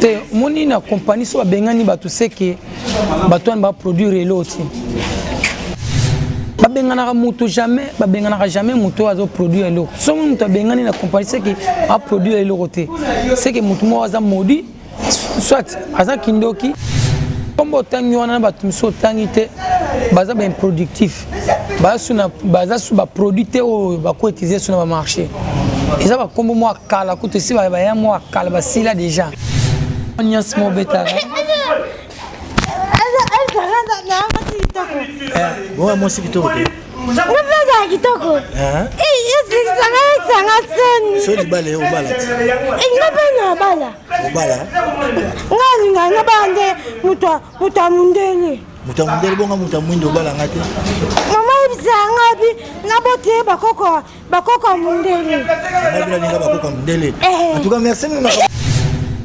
te moni na kompani so babengani bato seke bato wana baproduire elo te babenganaka moto jamais babenganaka jamais moto oyo azoproduire eloko soki moto abengani na kompani seke aproduire eloko te seke moto moko aza modi soit aza kindoki nkombo otangi wana na bato mosusu otangi te baza baimproductif basuna baza su baproduit te oyo bakoetize su na bamarché eza bakombo mwa kala kutu esi baya mwa kala basila déjà nyonso mobetaka bonga mwasi kitoko te mopeza kitoko esangaisanga soni so libala ye obala ti nga mpe na obala obala nga alinga nga bala nde moto ya mondele moto ya mondele bonga moto ya mwindo obala nga te mama yebisa nga bi naboti ye bakoko bakoko ya mondele nabinaninga bakoko ya mondele eh. antuka merci mama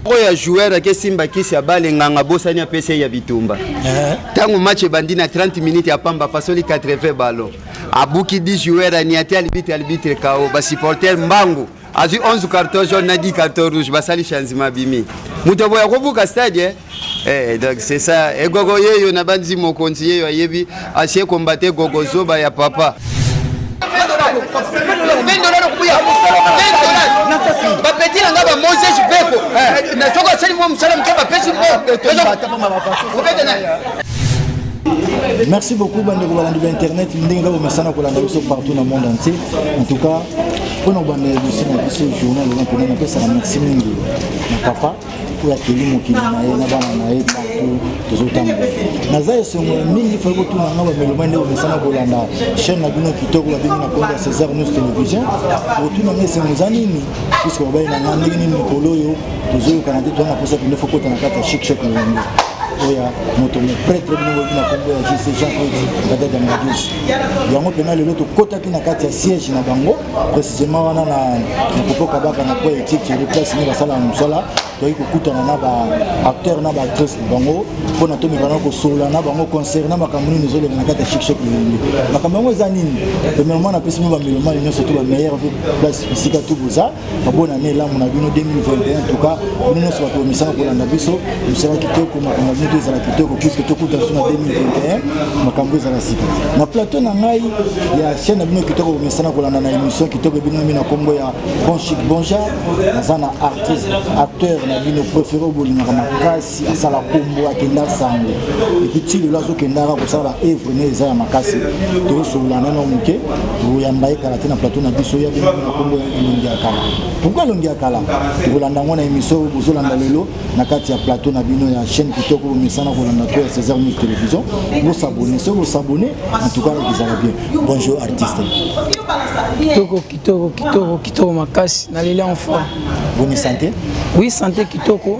oyo ya joueur ake simba kisi ya bale nganga bosani apesa ye ya bitumba eh. ntango match ebandi na 30 minutes ya pamba pasoli 80 ballon abuki 10 joueur aniati alibitre alibitre kao basupporter mbangu azwi 11 carton jaune na 10 carton rouge basali changement abimi moto aboya kobuka stade eh? Eh, donc c'est ça egogo eh, yeyo na banzi mokonzi yeyo ayebi asie kombate gogo zoba ya papa bapeti na nga ba moses beko eh. na soko asali mwa mosala moke bapesi Merci beaucoup, bande de internet. Nous avons partout dans le monde entier. En tout cas, mpo na kobanda emission na biso journal eza mpena napesaka merci mingi na papa oyo akeli mokili na ye na bana na ye partout tozotambola naza esengo ya mingi fai kotuna nga bameloma nde omesana kolanda chaîne na bino kitoko babengi na kombo ya césar news télévision otuna nga esengo eza nini puiske babali na nga ndenge nini mikolo oyo tozoyokana te towana mposa pende fokota na kati ya chic chok na yango oyo moto mopretre bino boyebi na kombo ya jc jean claude badada madius yango mpena lelo tokotaki na kati ya siège na bango précisément wana na kopo kabaka na po etiki yango place nde basalaka mosala toyei kokutana na baacteur na baactrice na bango mpo na tomekana kosolola na bango concernant makambo nini ezoleka na kati ya shikshek lolenge makambo yango eza nini premièrement napesi mino bamelomani nyonso to bameilleur place bisika tu boza babona ne elamu na bino 2021 tuka bino nyonso bato misala kolanda biso mosala kitoko makambo bino to ezala kitoko puiske tokuta biso na 2021 makambo ezala sika na plateau na ngai ya chaîne na bino kitoko komesana kolanda na émission kitoko ebinami na nkombo ya bon chic bonja naza na artiste acteur na bino préféré obolingaka makasi si asala kombo akenda sango epi ti lelo azokendaka kosala ba evre ne eza ya makasi tozosolola nano moke toyamba ye kala te na plateau na biso ya bino na kombo ya elongi ya kala pourkui elongi ya kala tokolanda yango na émission oyo bozolanda lelo na kati ya plateau na bino ya chaîne kitoko bomesana kolanda to ya césar news télévision bosabone soki bosabone en tout cas ekozala bien bonjour artiste kitoko kitoko kitoko kitoko makasi na leli en forme boni santé oui santé kitoko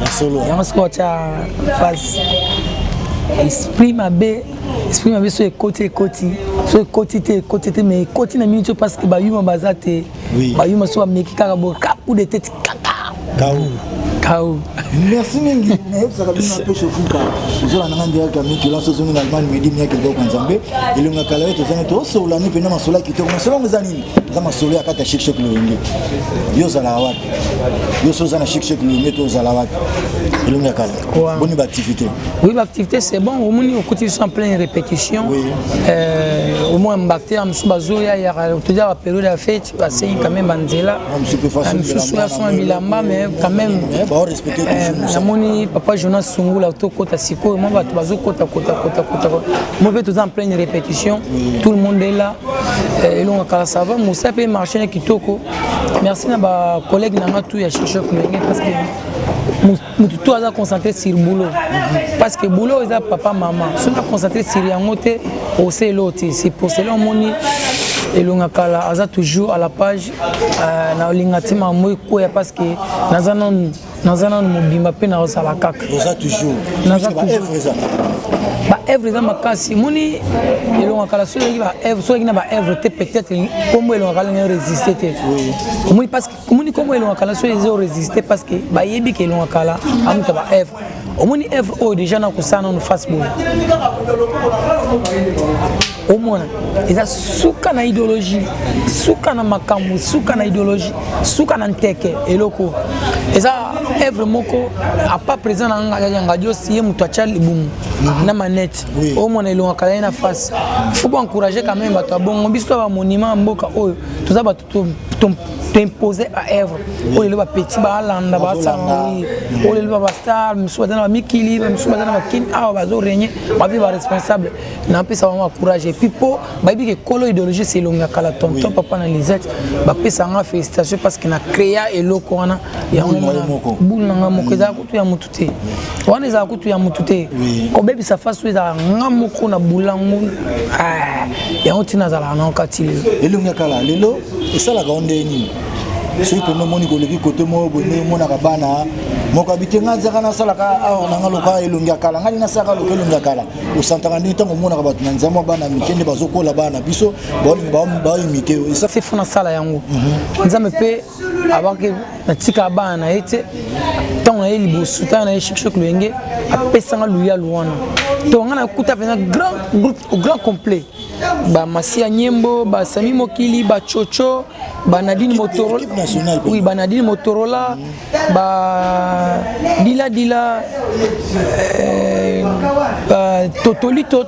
na solo yango sikoyo otya face esprit mabe esprit mabe so ekoti ekoti so ekoti te ekoti te mais ekoti na minute parce que bayuma baza te bayuma so bameki kaka bo kaku de tete kaka kawu kawu merci mingi nayebisaka bino mpe shofuka ozala nanga ndiraka miki lanso ozongi na allemagne medi miyaki eloko nzambe elonga kala yo tozangi tosololani mpenza masolo ya kitoko masolo yango eza nini eza masolo ya kati ya shekshek lolenge yo ozalaka wapi yoso oza na chic chic lolenge to ozala wapi elongi ya kala boni baactivité oui baactivité c'est bon omoni okuti biso en pleine répétition euh, omoi mbactère mosusu bazoya yaka toza baperiode ya fete basengi quand même banzela mosusu ya sona bilamba mais quand même namoni papa jonas sungula tokota sikoyo mwa bato bazokota kota kota kota mo mpe toza en pleine répétition tout le monde est là elonga kala ça va mosa mpe marché na kitoko merci na bacollègue na nga tout ya shishok ndenge parce que motu to aza concentré sur boulot parce que boulot eza papa mama soki na concentré sur yango te ose eloo te c'est pour cela omoni elonga kala aza toujours à la page euh, nalinga ntima moi ekweya parce que naza nanu naza nanu mobimba mpe naozala kaka baevre eza makasi moni elonga kala soki oleki na baevre te peut-être nkombo elonga kala ndenge resiste te omoni parce que omoni nkombo elonga kala soki eza oresiste parce que bayebi ke elonga kala amuta baevre omoni evre oyo deja nakosala nanu face boye omona eza suka na ideologie suka na makambo suka na ideologie suka na nteke eloko eza evre moko apa président na nga ya ngadiosi ye moto atya libumu mhm. na manete omona elongaka ye na face faut boencourage quand même bato ya bongo biso to bamonima ya mboka oyo toza bato toimpose baevre oyo lelo bapeti balanda basala oyo lelo babastar misusu baza na bamikili bamisusu baza na bakini awa bazo regne babi baresponsable napesa bango bacourage epuis mpo bayebi ke kolo idéologie selonga kala tonton papa na lisette bapesa nga félicitation parce que na créa eloko wana yango boule na nga moko eza kutu ya motu te wana ezala kutu ya motu te kobebisa fasi oyo ezala nga moko na bolango ah, yango ntina azalaka na okati lelo elongi ya kala lelo esalaka o ndenge nini soki mpenza omoni koleki kote moko boye ndenge omonaka bana moko abite ngai nzaka nasalaka awa na ngai loka elongi ya kala ngai nasalaka loka elongi ya kala osantaka ndenge ntango omonaka bato na nzambe bana mike nde bazokola bana na biso baolingi baoimite yo esafefo nasala yango mhm. nzambe mpe abaki natika bana na ye te ntango na ye liboso ntango na ye shikshok loyenge apesanga luyalu wana to ngai nakuta mpenza grand groupe grand complet bamasiya nyembo basami mokili bacoco banadine motorola oui banadine motorola ba dila dila euh, ba totoli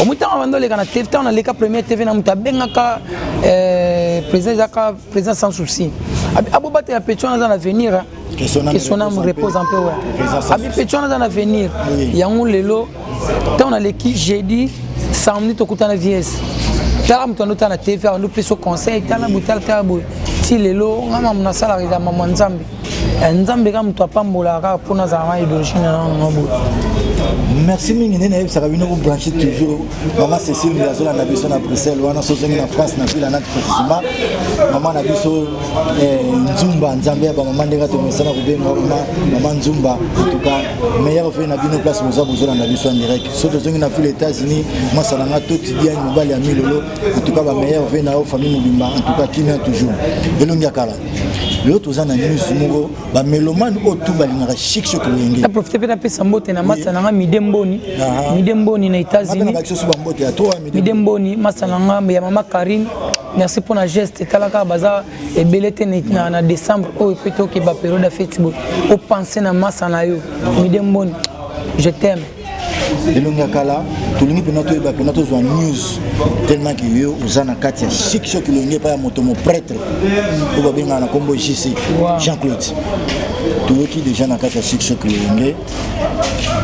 omo ntango abanda oleka na tv ntango naleka première tv na moto abengaka eh, président ezaka président sans souci abobatela petion aza na avenir hein. que son âme, que son âme repose en paix ouais. abi petion aza na avenir yango lelo ntango naleki jeudi samedi tokutana vies tala moto ando tala na tv ando pesa conseil tala boye tala tala boye ti lelo nga mamu nasalaka eza mamu ya nzambe Eh, nzambe kaka moto apambolaka kaka mpo nazala na idologie na nano na boye merci mingi nde nayebisaka bino kobranche toujours mama cécile nde azolanda biso na bruxelles wana sozongi na france na ville anati precisement mama na biso eh, nzumba nzambe ya bamama ndenge tomesana kobenga mama mama nzumba entuka meilleur vie na bino place boza bozolanda biso en direct so tozongi na ville états-unis mwasa na nga toti diane mobali ya milolo entuka bameilleur vie na yo famille mobimba entuka kimia toujours elongi ya kala lelo toza na news moko bamelomane oyo tu balingaka chic choc loyenge naprofite mpe napesa mbote na masa na nga mide mboni ah. mide mboni na états-unimide mboni masa na nga ya mama karine merci mpo na geste etalaka baza ebele te na, na décembre oyo mpe tokeba periode ya feti boye opense na masa na yo mide mboni je t'aime elongi ya kala tolingi mpena toyeba mpena tozwa news tellement ke yo oza na kati ya chic choc elongi epai ya moto mopretre oyo babengaka na nkombo jc jean claude toyoki deja na kati ya chic choc elongi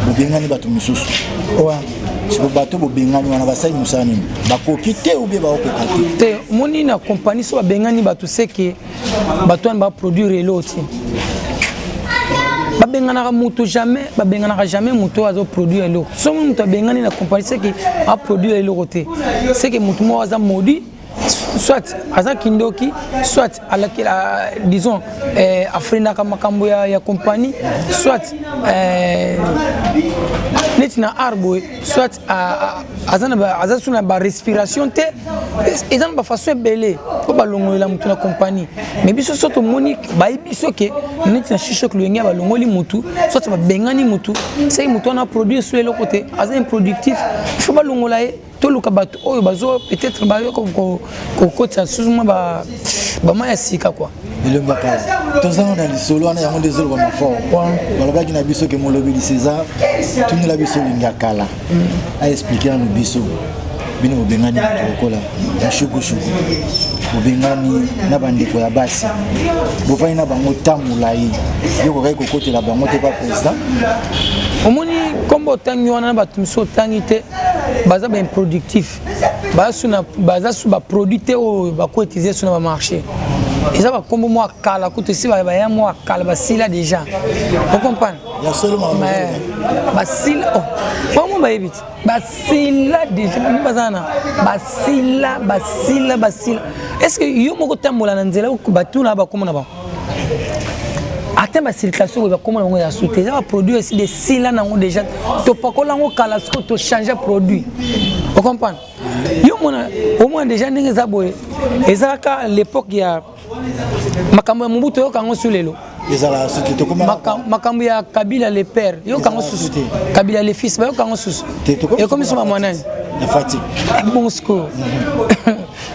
bobengani bato mosusu siko bato bobengani wana basali mosala nini bakoki te obie baokoka te te moni na kompani so babengani bato seke bato wana baproduire elo te babenganaka moto jamais babenganaka jamais moto oyo azoproduire eloko soki moto abengani na compagnie seke aproduire eloko te seke moto moko aza modi soit aza kindoki soit alakela disons eh, afrendaka makambo ya, ya compagnie soit eh, neti na art boye soit aza sous na barespiration te eza na bafaçon ebele mpo balongolela motu na compagnie mais biso so tomoni bayebi biso ke neti na shishok loyenge ya balongoli motu soit babengani motu seki motu wana produire so eloko te aza improductif il faut balongola ye toluka bato oyo bazo peut-être bayo kokotisa lisusu mwa ba bama ya sika kwa elongi ya kala tozanga na lisolo wana yango nde ezoloba mafort balobaki na biso ke molobeli césar tunela biso elingi ya kala mm. aexplike nanu biso bino bobengani moto lokola mushukushuku bobengani na bandeko ya basi bofandi na bango ntango molai yo kokaki kokotela bango te pa président omoni nkombo otangi wana na bato mosusu otangi te baza baimproductif basuna baza su baproduit te oyo bakoetize su na bamarché eza bakombo mwa kala kutu esi baya mwa kala basila déjà ocomprendre basila bango bayebi te basila déjà bani baza na basila basila basila est ce que yo moko otambola na nzela batuna bakombo na bango ata basilika soko bakoma yango ya sute eza baproduit esi desila nango déjà topakola yango kala soko tochange produit ocomprendre yo mona omona déjà ndenge eza boye eza kaka l'époque ya makambo ya mobutu oyoka yango su lelo ezala soki tokoma makambo ya kabila le père yoka yango susu te kabila le fils bayoka yango susu ekomi soma mwanani na fati eh, bongo sikoyo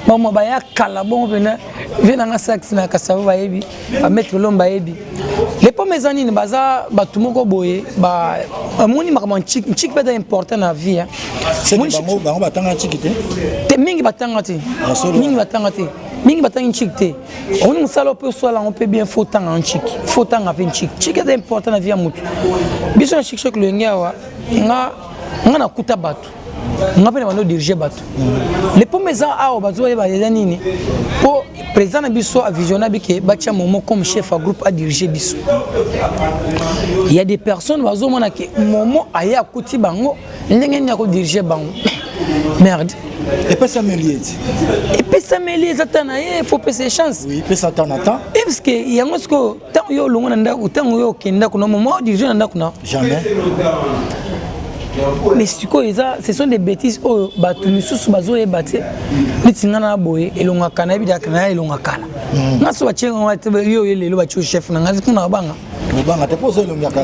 mama baya kala bongo mpena vie na nga sax na kasavo bayebi bametre lomba bayebi lepome eza nini baza bato moko boye bamoni makambo ncik ncik mpe eza important na vie bango batanga nciki te te mingi batanga te mingi batanga te mingi batangi ncik te omoni mosala mpe osala yango mpe bien fo otanga ncik fo otanga mpe ncik ncik eza important na vie ya motu biso na shikshok loyenge awa nga nga nakuta bato nga mpe na bando dirige bato le pome eza awa bato bayeba eza nini mpo président na biso avisiona bike batya momo comme chef ya groupe adirige biso ya des personnes bazomona ke momo aye akuti bango ndenge nini akodirige bango merde epesameli ete epesameli eza ta na ye fo pesa chance oui, pesa ta na ta e eh, parce que yango sikoyo Tango yo olongo na ndako, tango yo okende ndako na maman dirige na ndako na. Jamais. mais sikoyo eza ce sont des bêtises oyo bato misusu bazoyeba te neti ngai na boye elongaka nayebi daka na ya elongakala hmm. nga so batie ngai te yo oye lelo batio chef na ngai kuna babanga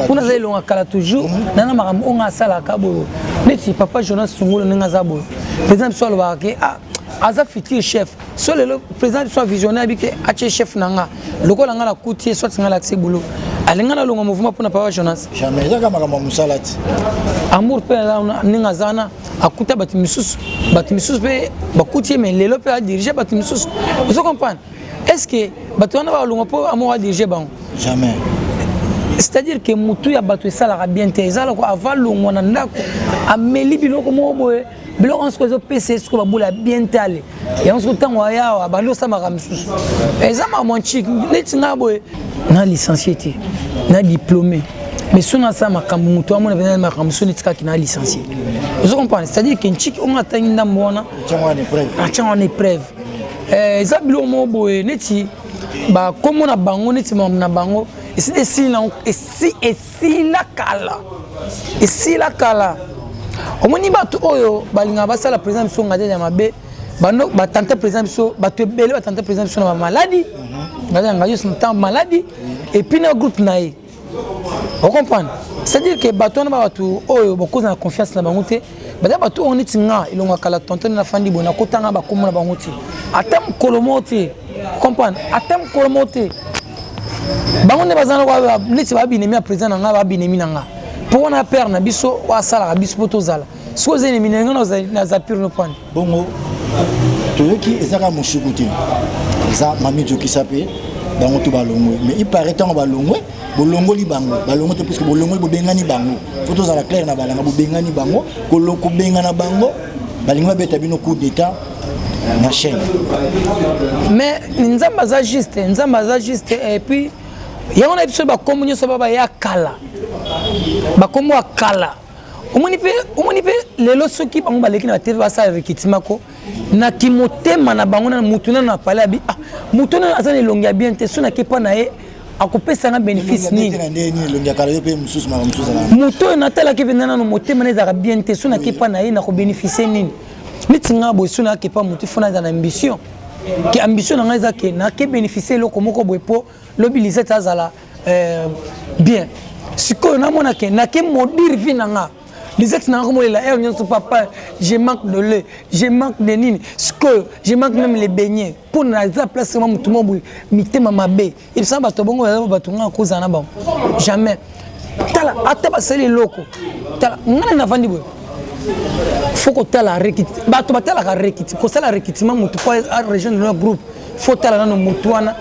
kuna aza elonga kala toujours hmm. nana makambo oyo ngai asalaka boyo neti papa jonas sungolo ndenge aza boyo president biso alobaka ke ah, aza futur chef so lelo président biso avisionnaire abi ke atie chef na nga lokola nga nakuti ye soit nga lakisi boulot alinga nalonga mouvement mpo na papa jonas jamais ezaka makambo ya mosala ti amour mpe ndenge aza wana akuta bato misusu bato misusu mpe bakuti ye mai lelo mpe adirige bato misusu ozo comprendre est ce que bato wana balonga mpo amour adirige bango jamais c'est-à-dire que motu ya bato esalaka bien te eza loko avalongwa na ndako ameli biloko moko boye biloko yango soki ezopesa ye soki babola bien tale yango soki ntango ayawa abandi osamaka mosusu eza mamanchik neti nga boye na licencie te na diplôme mais soki nasala makambo moto wamona mpenza makambo soki netikaki na licencie ozo comprendre c'est à dire ke nchiki onga atangi ndambo wana atiango wana épreuve eh, eza biloko moko boye neti bakombo na bango neti mambo na bango esi esili nango esi esila kala esila kala omoni bato oyo balingaka basala président biso ngadele ya mabe bando batante président biso bato ebele batante président biso na bamaladi ngadele ya ngadios na ntango maladi epuis na groupe na ye ocomprendre c'est-à-dire ke bato wana ba bato oyo bakozala confiance na bango te baza bato oyo neti nga elongo ya kala tontone na fandi boye nakotanga bakombo na bango te ata mokolo moko te comprendre ata mokolo moko te bango nde baza neti babinemi ya président na nga babinemi na nga mpo wana père na biso oyo asalaka biso mpo tozala soki oza enemi na nga naza pure nopane bongo toyoki ezaka moshuku te eza mami jokisa mpe bango to balongwe mais il paraît ntango balongwe bolongoli bango balongo te puisque bolongoli bobengani bango fo tozala claire na balanga bobengani bango kobengana bango balingi babeta bino coup d'état na chaîne mais nzambe aza juste nzambe aza juste et puis yango na biso bakombo nyonso baba ya kala bakombo ya kala omoni mpe lelo soki bango baleki na batv basala rekitimako na kimotema na bango na motu nano apale abi ah, motu nano aza na elongi ya bien te so nake mpa na ye akopesa nga bénéfice nini moto oyo natalaki mpenza nano motema na ezalaka bien te so nake mpa na ye nakobénéficie nini neti nga boye so nake mpa motu fo naza na ambition ke ambition na ngai eza ke nake bénéficie eloko moko boye mpo lobi lisete azala euh, bien sikoyo namonake nake modire vi na nga lisaki nanga komolela heure nyonso papa je manque de lait je manque de nini sikoyo je manque même le beignet mpo na eza place ma motu mwa boye mitema mabe ebisana bato ya bongo baza bato ngaa kozala na bango jamais tala ata basali eloko tala ngai navandi boye fo kotala rekiti bato batalaka rekiti kosala rekitima motu mpo arejoindre na groupe faut tala nano mutu wana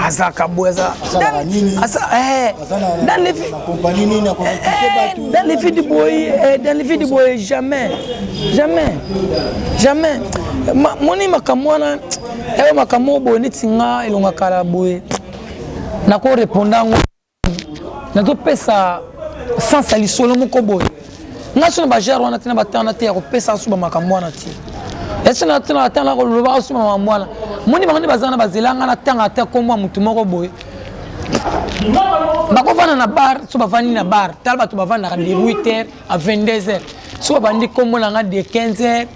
azalaka boye aza eh, dans les vies du boye eh, dans les vies du boye jamais jamais jamais moni makambo wana eyo eh, makambo boye neti nga elonga kala boye nako reponda yango nazopesa sans ya lisolo moko boye nga so na bagere wana te na bate wana te ya kopesa asuba makambo wana te esi na tena ata na koloba asuba makambo wana moni bango nde baza na bazela nga na tanga ata nkombo ya motu moko boye bakovanda na bar so bavandi na bar tala bato bavandaka de 8 heures à 22 heures so babandi nkombo na nga de 15 heures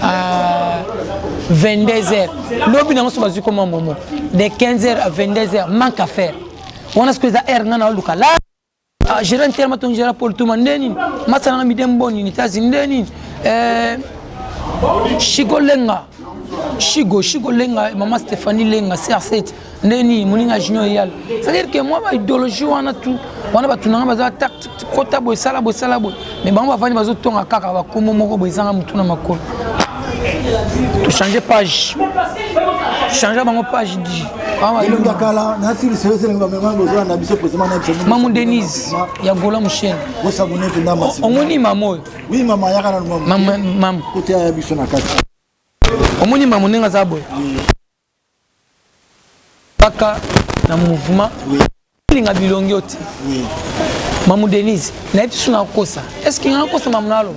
à 22 heures lobi nango so bazwi nkombo ya momo de 15 heures à 22 heures manque à faire wana siko eza aire nga na oluka la ah, gera ntere matongi gera pole tuma nde nini masana na mide mbo nini tazi nde nini eh, shiko lenga shigo shigo lenga mama stéphanie lenga cr7 nde nini moninga junior eyala c'est-à-dire que mwa baidéologie wana tu wana bato na nga baza tactique kota boye sala boye sala boye mais bango bavandi bazotonga kaka bakombo moko boye ezanga motu na makolo tochange page change bango page di mamu denise ya gola moshene omoni mama oyo omoni mama ndenge aza boye Kaka na mouvement oui. Linga bilongi yo te oui. Mamu Denise na yebi suna kosa est-ce que nga kosa mamu nalo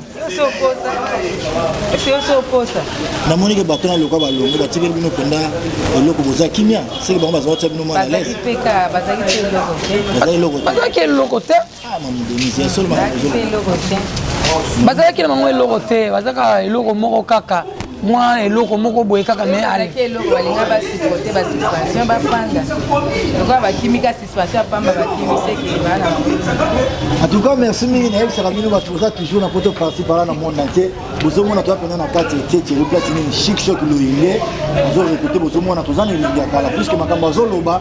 na moni ke bato na loka balongo batikeli bino mpenza eloko boza kimia seke bango baza batya bino mwana lese baza eloko te bazalaki na bango eloko te bazalaka eloko moko kaka mwa eloko moko boye kaka me alaki eloko balinga basuporte basuspension bafanda lokola bakimi ka suspension ya pamba bakimi seke bana en tout cas merci mingi nayebisaka bino bato boza toujours na poto parti pala na monde entier bozomona toza mpenza na kati etietie eplasi nini chic shok loyenge azorekote bozomona toza na elingi ya kala puiske makambo azoloba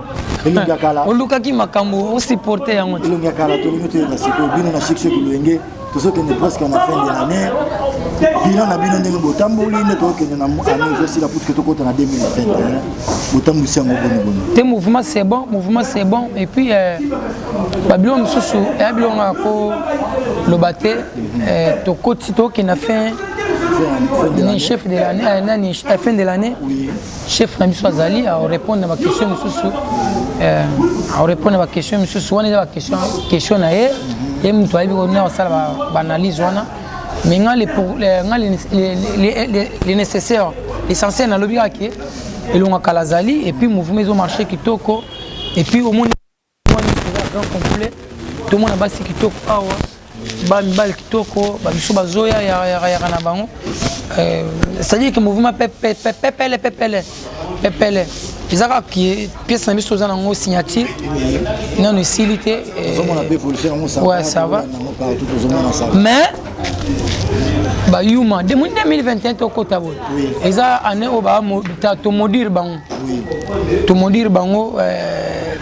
elongi ya kala olukaki makambo osiporte yango te elongi ya kala tolingi toyeba sikoyo bino na shikshek lolenge tozokende presque na fin de l'année bilan na bino ndenge botamboli nde tokokende na année ezosila putuke tokota na 2021 botambwisi yango boniboni te mouvement c'est bon mouvement c'est bon et puis euh, babilo mosusu eya biloko nga koloba te mhm. euh, tokoti tokende na fin chef de l'année euh, nani fin de l'année chef na biso azali arepondre na baquestion mosusu arepondre na baquestion mosusu wana eza baquestion na ye ye moto ayebi kona kosala baanalyse wana mais nga le nécessaire l'essentiel nalobi kaka ke elonga kala azali epuis mouvement ezomarche kitoko epuis omoni Grand complet tomona basi kitoko awa ba mibali kitoko ba biso bazoya yaka na bango euh, c'est-à-dire que mouvement pepele pepele pepele eza kaka kie pièce na biso oza nango signature nano esili te euh, ouais ça va mais bayuma 2021 tokota boye eza année oyo tomodire bango tomodire bango euh,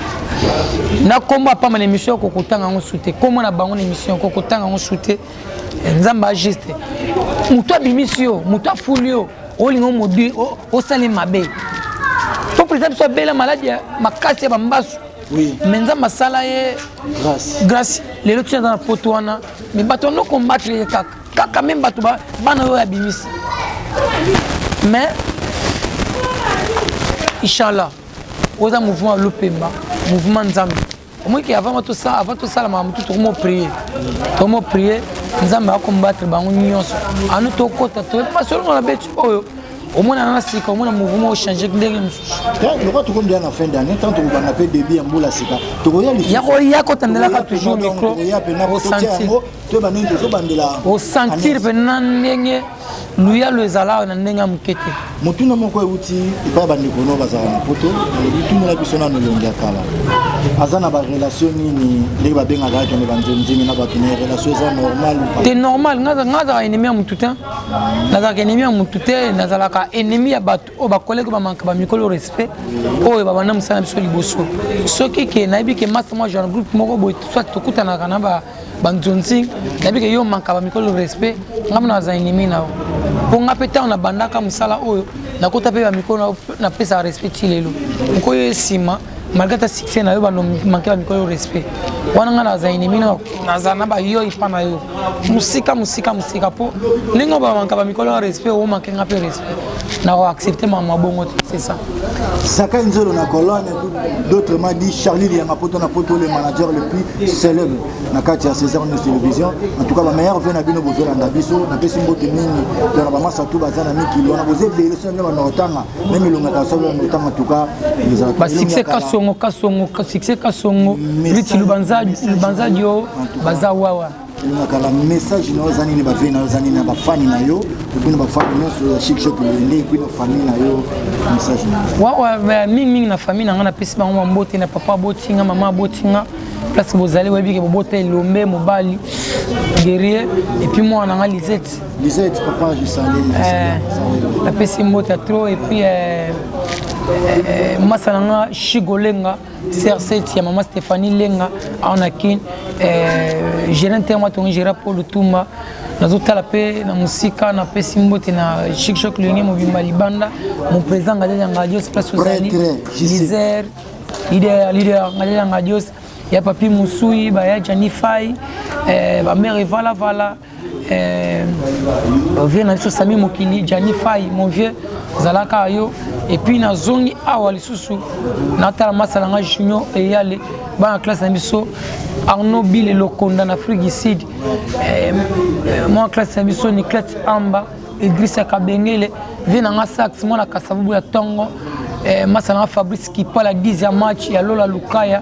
na nkombo apamba na émission yoko kotanga yango su te nkombo na bango na émission yoko kotanga yango su te eh, nzambe ajuste moto abimisi yo moto afuli yo olinga omodire osali mabe mpo président biso abela maladi ya makasi ya bambasu oui. me nzambe asala ye grace lelo tina aza na poto wana Mais bato no combattre ye kaka kaka meme bato bana oyo abimisi mais inshallah oza mouvement ya lopemba mouvement nzambe omoki avant tosala makambo tu tokomo prie tokomo prie nzambe akombatre bango nyonso anu tokota toyebi masolo na beti oyo omona na sika omona mouvement ochange ndenge mosusu lokola tokomi deya na fin d'année ntango tokobanda mpe début ya mbula sika tokoya lisusuya kotandelaka toujours micro osentir mpe na ndenge luyalo ezalaka na ndenge ya moke te motuna moko euti epai bandeko no bazalaka na poto bitunela biso nano elongi ya kala aza na barelation nini ndenge babengaka akende banzemzemi na bato na relation eza normal te normal nga azalaka enemi ya motu te nazalaka ennemi ya motu te nazalaka ennemi ya bato oyo bakoleki bamanka bamikolo respect oyo babanda mosala na biso liboso soki ke nayebi ke masta mwa genre groupe moko boye soit tokutanaka na banzonzi nayebi ke yo manka bamikolo respect ngai mona baza ennemi na yo mpo ngai mpe ntango nabandaka mosala oyo nakota mpe bamikolo napesaka respect ti lelo okoyo ye nsima malgré ta succès na yo bando manke bamikolo yo respect wana ngai naza enemi naza na bayo epa na yo mosika mosika mosika mpo ndenge oyo bamanka bamikolo ya respect omanke ngai mpe respect nakoaccepte mama bongo te c'est ça sakai nzolo na colonne d'autres ma dit charlie liyanga poto na poto le manager le plus célèbre na kati ya césar news télévision en tout cas bameilleur ve na bino bozolanda biso napesi mbote mingi tona bamasa tu baza na mikili wana boza ebele so nde banaotanga meme elonga kasolo yango ntango atuka basuccès kasongo kasongo succès kasongo liti lubanza dio baza wawa elonga kala message na yo eza nini bavie na yo eza nini na bafani na yo epui na bafani nyonso ya shikshop elende epui na famille na yo message na yo wawa mingimingi na famille na ngai napesi bango bambote na papa aboti nga mama aboti nga place bozali boyebi ke bobota elombe mobali guerrier epuis mwana na ngai lisete Lisette papa je salue. Euh, napesi mbota trop et puis euh, euh, masa na nga shigo lenga serset ya mama stéphanie lenga awa na kin gerant te yango atongi gera po lutumba nazotala mpe na mosika napesi mbote na chikshok lenge mobimba libanda mopresident ngadeli ya ngadios place ozali liser lider lider ngadeli ya ngadios ya papi mosui baya janifai eh, bamere valavala eh, vieux na biso sami mokili jani fai mon vieux zalaka yo epuis nazongi awa lisusu natala masa na ngai junior eyale bana classe na biso arnaud bile lokonda na afrique du sud eh, eh, mwana classe na biso niclete amba idrisa kabengele vie na ngai sax mwana kasavubu ya ntongo eh, masa na ngai fabrice kipala 10 ya match ya lola lukaya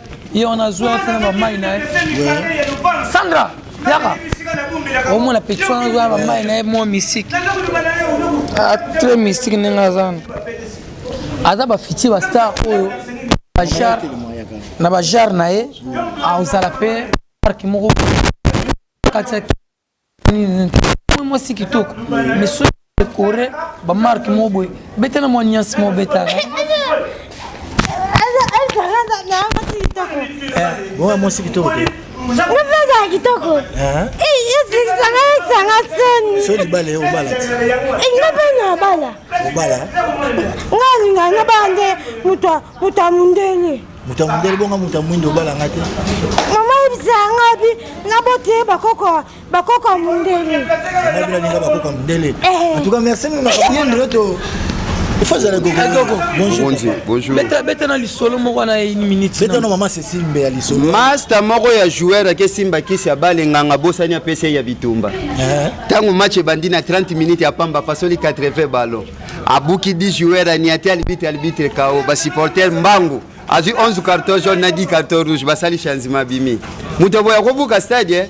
ye wana azwi afina bamai na ye sandra yaka omona petit wana azwa bamai na ye mwa misiki ah, très misiki ndenge aza wana aza bafiti bastar oyo bajar na bajar na ye ozala mpe parki moko katia mwasi kitoko misu ekore bamarke moko boye beta na mwa nyasi moko betaka bonga mwasi kitoko te mopeza kitoko esanga soni so libala ye obala ti nga mpe na obala obala nga alinga nga baa nde moto ya mondele moto ya mondele bonga moto ya mwindo obala nga te mama yebisa nga bi naboti ye bakoko bakoko ya mondele nabi nalinga bakoko ya mondele eh. antuka merci monaka bien ndoto beta na lisolo moko na une minute beta na mama cecile mbe ya lisolo masta moko ya joueur ake simba kisi abale nganga bosani apesi ye ya bitumba ntango eh. match ebandi na 30 minutes ya pamba pasoli 80 ballon abuki 10 joueurs aniati alibite alibite kao basupporter mbangu azwi 11 carton jaune na 10 carton rouge basali changement bimi moto boya kobuka stade eh?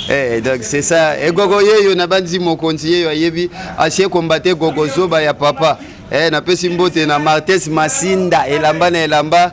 Eh, donc c'est ça egogo yeyo nabanzi mokonzi yeyo ayebi asie kombate gogo zoba ya papa eh, napesi mbote na martes masinda elamba na elamba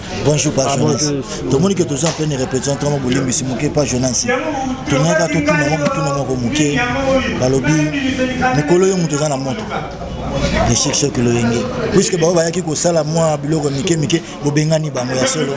bonjour pa jonas tomoni ke toza mpene repetition ntango bolimbisi moke pa jonas tongaka totuna mwa motuna moko moke balobi mikolo yo moto eza na moto echec choc loyenge puiske bango bayaki kosala mwa biloko mike mike bobengani bango ya solo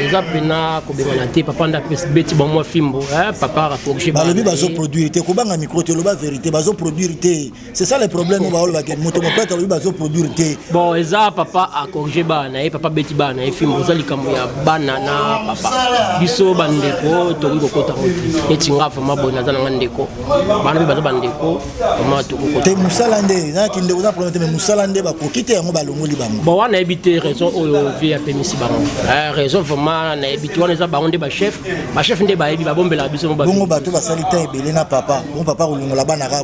eza mpena kobengana te papa nda beti bamwa fimbo eh, papa balobi bazoproduire te kobanga mikro te oloba verité bazoproduire te c'est ça le problème oyo baoloba ke moto mopete alobi bazoproduire te bon eza papa acorrige bana na ye papa abeti bana na ye fimbo oza likambo ya bana na papa biso bandeko tokoki kokota moto neti nga vraimen boye naza na nga ndeko bana mpe baza bandeko vraimen tokokota te mosala nde na kindeko oza problème te mais mosala nde bakoki te yango balongoli bango bon wana nayebi te raison oyo vie apemisi bango eh, raison vraimen nayebi te wana eza bango nde bachef bachef nde bayebi babombelaka biso bongo bato basali temps ebele na papa bon papa kolongola bana kaka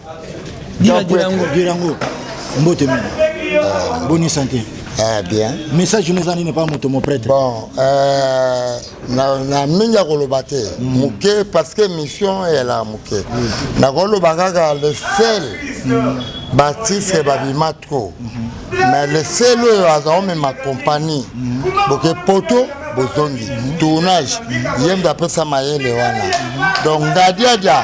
Jean Pouet, Durango, mbote mingi. Ah. Bonne santé. Eh bien. Message nous en n'est pas moto mon prêtre. Bon, euh, na na mingi ya koloba te. Mm. Moke parce que mission est là moke. Mm. Na koloba kaka le sel. Mm. Baptiste babima trop. Mm-hmm. Mais le sel oyo azao mema compagnie. Mm-hmm. Boke poto bozongi. Mm-hmm. Tournage. Yembe apesa mayele wana. Donc ngadiadia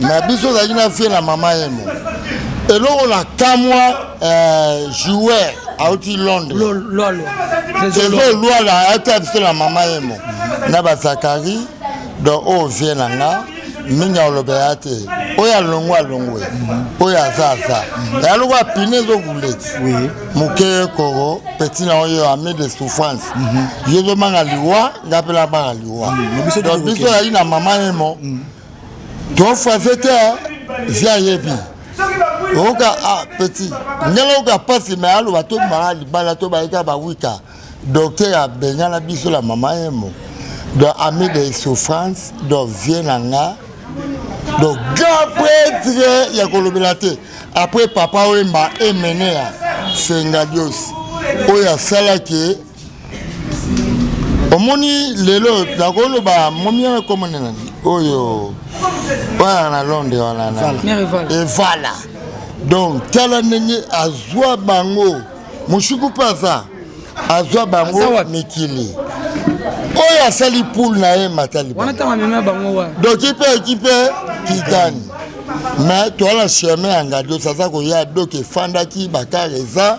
na biso ozalaki na vie na mama yemo eloko na kamwa euh, joueur auti londres ezolwala ayaki ya biso na mama yemo na bazakari donc oyo vie na nga mingi aloba ya te oyo alongwe alongwe oyo aza aza ya loko apine ezobuleti moke koko peti na oyo ami de souffrance mhm. ye ezomanga liwa nga mpe namanga liwa mm, donc biso yaki na mama yemo mm. tofa vete via yebi oyoka a ah, petit ndenge oyoka mpasi me aloba to maa libala to bayika bawika docteur abengana biso la mama yemo donc ami de souffrance donc vie na nga donc grand prêtre ya kolobela te après papa oyemba emenea sengadios oyo asalaki omoni lelo nakoloba momiere komona nani oyo wana na londre wana evala donc tala ndenge azwa bango moshiku mpe aza azwa bango mikili oyo asali poule na ye matalidoki mpe ekipe kigani me toala chemin ya ngadios aza koya doki efandaki bakare eza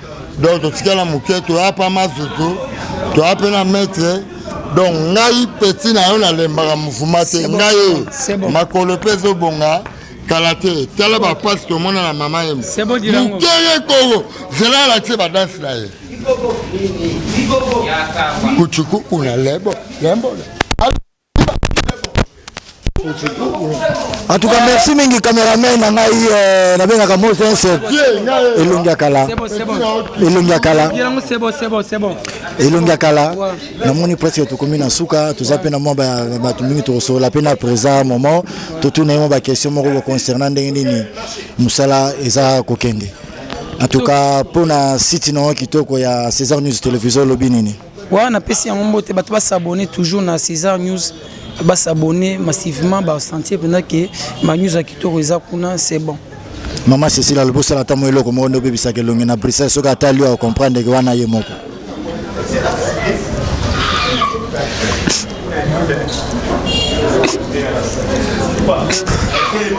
donc totikala moke toya pa mazoto toya mpe na maître donc ngai peti na yo nalembaka mofuma te ngai oyo makolo mpe ezobonga kala te tala bapasi tomona na mama ye mokeye koko zela alakisi badanse na ye kucukuku na lebo lembola En tout cas, merci mingi cameraman na ngai euh, nabengaka Moses elongi ya kala elongi ya kala elongi ya kala namoni presque tokomi na nsuka toza mpe na mwa bato mingi tokosolola mpe na présent moment totuna ye mwa baquestion moko boconcernant ndenge nini mosala eza kokende en tout cas mpo na site na yango kitoko ya césar news télévision olobi nini Voilà, na pesi yango mbote bato ba s'abonner toujours na César News ba s'abonner massivement ba sentir pendant que ma news ya kitoko eza kuna c'est bon. Maman Cécile alobi osala ata mwa eloko moko nde obebisaka elongi na Bruxelles soki atali yo akomprendre ke wana ye moko.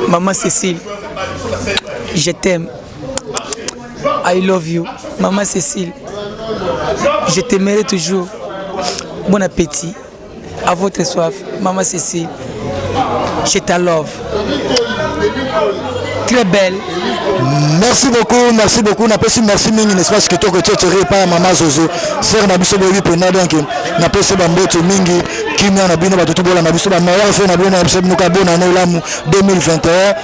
Maman Cécile, je t'aime. I love you, Maman Cécile. Je t'aimerai toujours. Bon appétit. À votre soif, Maman Cécile. Je te love. Très belle. Merci beaucoup, merci beaucoup. N'a pas si merci mingi n'est-ce pas ce que toi que tu es pas maman Zozo. Sœur na biso boyi pena donc n'a pas si bamboto mingi kimia na bino batutu bola na biso ba meilleur fait na bino na biso muka bona na elamu 2021.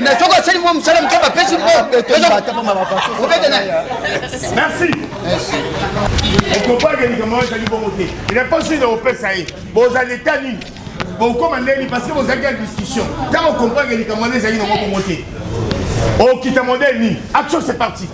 na soko asali mwa mosala moke bapesi merci okopake likambo ezali bongo te reponse nini okopesa ye bozali eta nini bokoma ndeni parce que bozalaki ya discussion ntango okomprake likambo wana ezali nango bongo te okita modele nini action c'est parti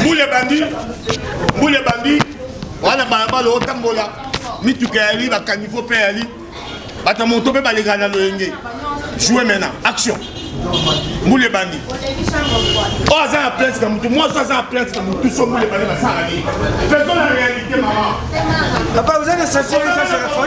mbule bandi mbule bandi wana balabala otambola mituka yali bakanivo mpe yali bato ya moto mpe balekana na loyenge joue maintenant action mbule bandi oyo aza na plainte na motu mwasi aza na plainte na motu so mbule bandi basala nini faisons la réalité mama papa oza na sensibilisation ya fo